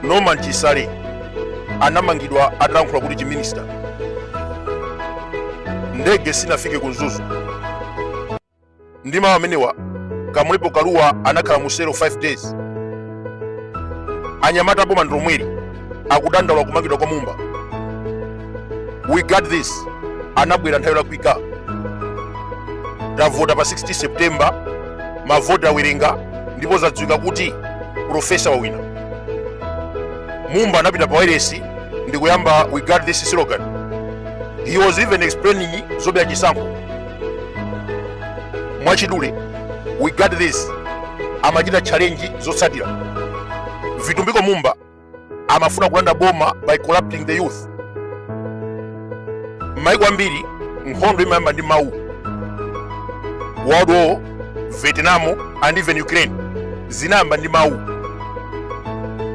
norman chisale anamangidwa atalankhula kuti chiminista ndege sinafike ku mzuzu ndi mawu amenewa kamlepo kalua anakhala mu selo 5 days anyamata boma ndilomweli akudandaula kumangidwa kwa mumba we got this anabwera nthawi yolakwika tavota pa 16 september mavoti awerenga ndipo zadziwika kuti profesa wawina mumba anapita pa wailesi ndi kuyamba we got this slogan he was even explaining zobera chisankho mwachidule we got this amachita challenge zotsatira vitumbiko mumba amafuna kulanda boma by corrupting the youth m'maiko ambiri nkhondo imayamba ndi mawu world war vietnam and even ukraine zinayamba ndi mawu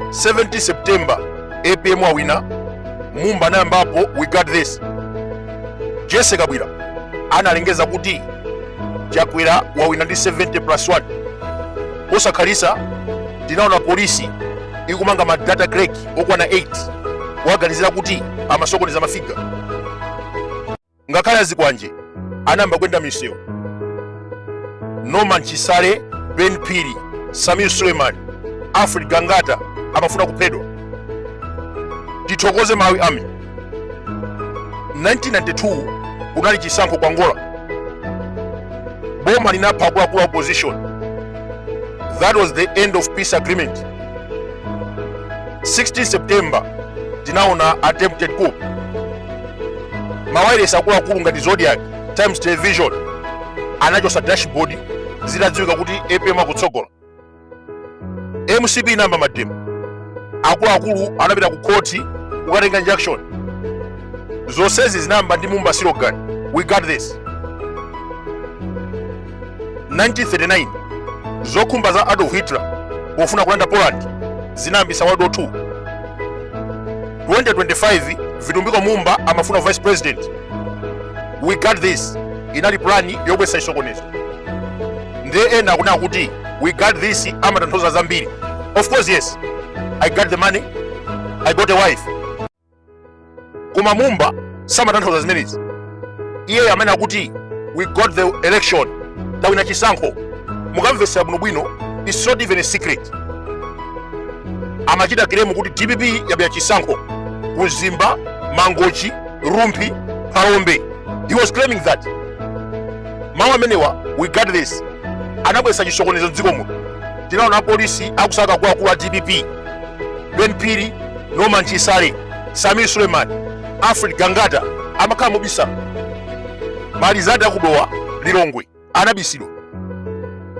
17 september apm wawina mumba anayambapo we got this jessie kabwila analengeza kuti chakwera wawina ndi 70 plus 1 posakhalitsa tinaona polisi ikumanga ma data clerk okwana 8 kuwaganizira kuti amasokoneza mafiga ngakhale azikwanje anayamba kuyenda misewu norman chisale ben phiri sameer suleiman alfred gangata amafuna kuphedwa tithokoze malawi army 1992 kunali chisankho ku Angola, boma linapha akuluakulu a opposition. That was the end of peace agreement. 16 September tinaona attempted coup. Mawayilesi akuluakulu ngati Zodiak, Times Television anachosa dashboard zitadziwika kuti APM akutsogola. mcp inayamba mademo akuluakulu anapita ku khoti kukatenga injunction zonsezi zinayamba ndi mumba slogan we got this 1939 zokhumba za adolf hitler pofuna kulanda poland zinayambisa world war 2 2025 vitumbiko mumba amafuna vice president we got this inali plani yobwesa chisokonezo ndiye ena akunena kuti we got this amatanthauza zambiri of course yes i got the money i got a wife koma mumba samatanthauza zimenezi iye amanena kuti we got the election tawina chisankho mukamvetsera bwinobwino it's not even a secret amachita claim kuti dpp yabera chisankho ku mzimba mangochi rumphi phalombe he was claiming that mawu amenewa we got this anabweretsa chisokonezo mdziko muno tinaona apolisi akusaka akuluakulu a dpp ben phiri norman chisale sameer suleman alfred gangata amakhala mobisa malizati a ku dowa lilongwe anabisidwa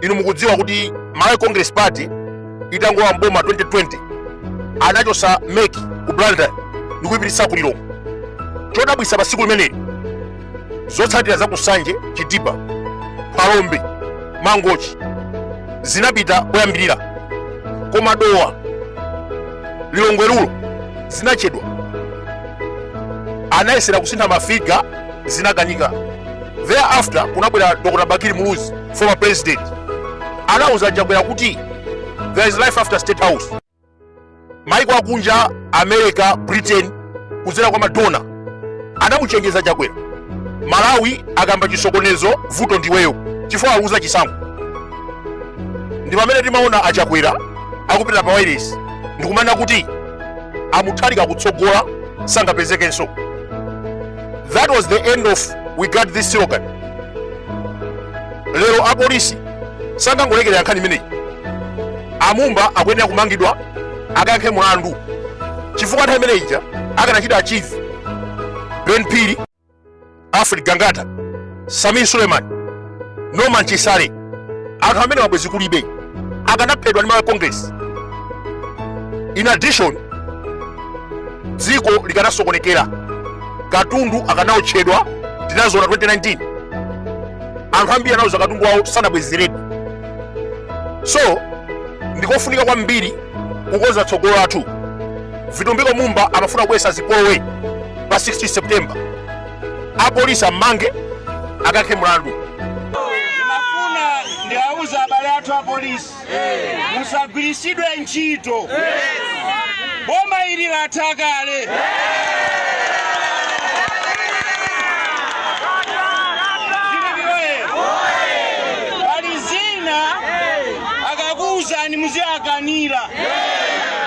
inu mukudziwa kuti malawi congress party itangolowa mboma 2020 anachosa mec ku blantyre ndikuipititsa ku lilongwe chodabwisa pa siku limeneli zotsatira za ku nsanje chitipa phalombe mangochi zinapita koyambirira koma dowa lilongwe rural zinachedwa anayesera kusintha mafiga zinakanika thereafter kunabwera dr bakili muluzi former president anauza achakwera kuti there is life after state house maiko akunja america britain kudzera kwa madona anamuchenjeza chakwera malawi akayamba chisokonezo vuto ndiweyo chifukwa waluza chisankho ndi pamene timaona achakwera akupita pa wailesi ndikumanena kuti amutharika akutsogola sangapezekenso that was the end of we got this slogan lero apolisi sangangolekerera nkhani imeneyi amumba akuyenera kumangidwa akayankhe mulandu chifukwa nthawi imene ija akanachita achieve ben phiri alfred gangata sameer suleman norman chisale anthu amenewa bwenzi kulibe akanaphedwa ndi malawi congress in addition dziko likanasokonekera katundu akanaotchedwa tinaziona 2019 anthu ambiri analuza katundu wawo sanabwezeredwe so ndikofunika kwambiri kukonza tsogolo lathu vitumbiko mumba amafuna kubwesa zipolowe pa 16 september apolisi ammange akayankhe mlandu ndimafuna ndiwauze abale athu apolisi musagwiritsidwe ntchito boma ili latha kale pali zina akakuuzani muziwakanira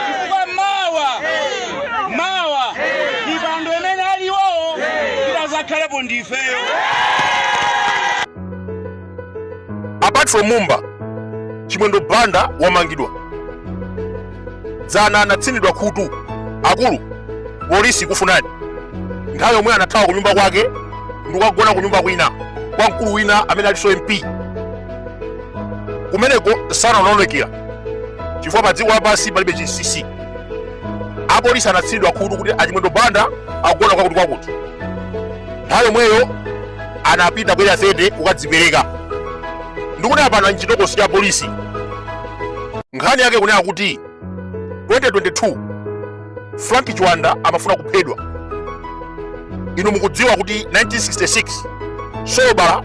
chifukwa mawa mawa mipando imene ali iwowo titazakhalepo ndifeyo apart from mumba chimwendo banda wamangidwa dzana anatsinidwa khutu akulu apolisi akukufunani nthawi yomweyo anathawa ku nyumba kwake ndikukagona ku nyumba kwina kwa mkulu wina amene alinso mp kumenekonso anaonekera chifukwa pa dziko lapansi palibe chinsinsi apolisi anatsinidwa khutu kuti achimwendo banda akugona kwakuti kwakuti nthawi yomweyo anapita ku area 30 kukadzipereka ndikuti apano mchitokosi cha polisi nkhani yake kunena kuti 2022 frank chiwanda amafuna kuphedwa inu mukudziwa kuti 1966 solobala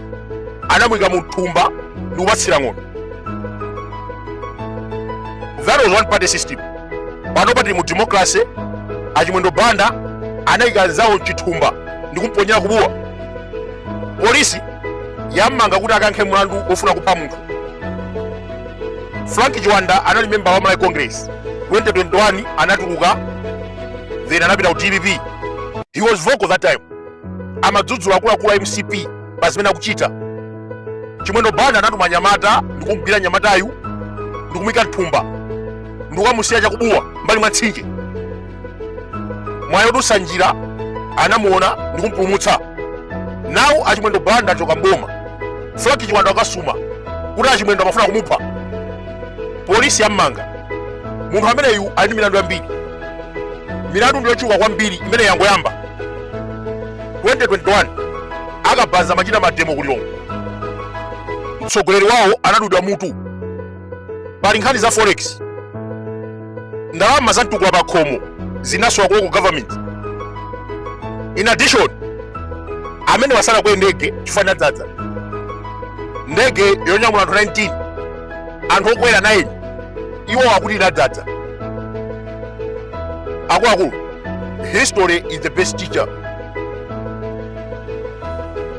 anamuyika mu thumba ndi kupatsira ng'ona that was one party system pano pa tili mu democracy achimwendo banda anayika mzawo mchithumba ndi kumuponyera ku bua polisi yammanga kuti akayankhe mlandu wofuna kupha munthu frank chiwanda anali memba wa malawi congress 2021 anatuluka then anapita ku dpp he was vocal that time amadzudzula akuluakulu a mcp pa zimene akuchita chimwendo banda anatuma anyamata ndi kumgwira mnyamatayu ndi kumuyika mthumba ndi kukamusiya cha ku bua mbali mwa mtsinje mwayi odutsa njira anamuona ndi kumpulumutsa now achimwendo banda achoka mboma frank chiwanda wakasuma kuti achimwendo amafuna kumupha polisi yammanga munthu ameneyu ali ndi milandu yambiri milandu ndi yochuluka kwambiri imene yangoyamba 2021 akabaza atachita mademo ku lilongwe mtsogoleri wawo anadulidwa mutu pali nkhani za forex ndalama za mtukula pa khomo zinasowa kulocal government in addition amene osakwera ndege chifukwa inadzadza ndege yonyamula anthu 19 anthu okwera 9 iwo akuti inadzadza akuluakulu history is the best teacher